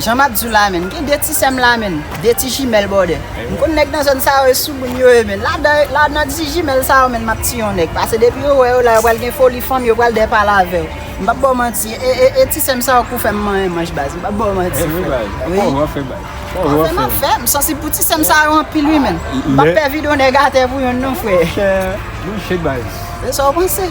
Jan map diw la menn gen 2 ti sèm la menn 2 ti jimèl bòdè m konn nèg nan zòn sa yo e soumoun yo ye menn ladan nan ti jimèl sa yo menn map ti yon nèg pase depi yo wè yo la yo pral gen foli fanm yo pral dè pale avèw m pap baw manti e ti sèm sa yo k pou fèm manyen manch baz m pap baw manti frèm wap fè map fè m sansib pou ti sèm sa yo anpil wi menn m pap pè vidéo nèg atè pou yonn non frè e sa w panse.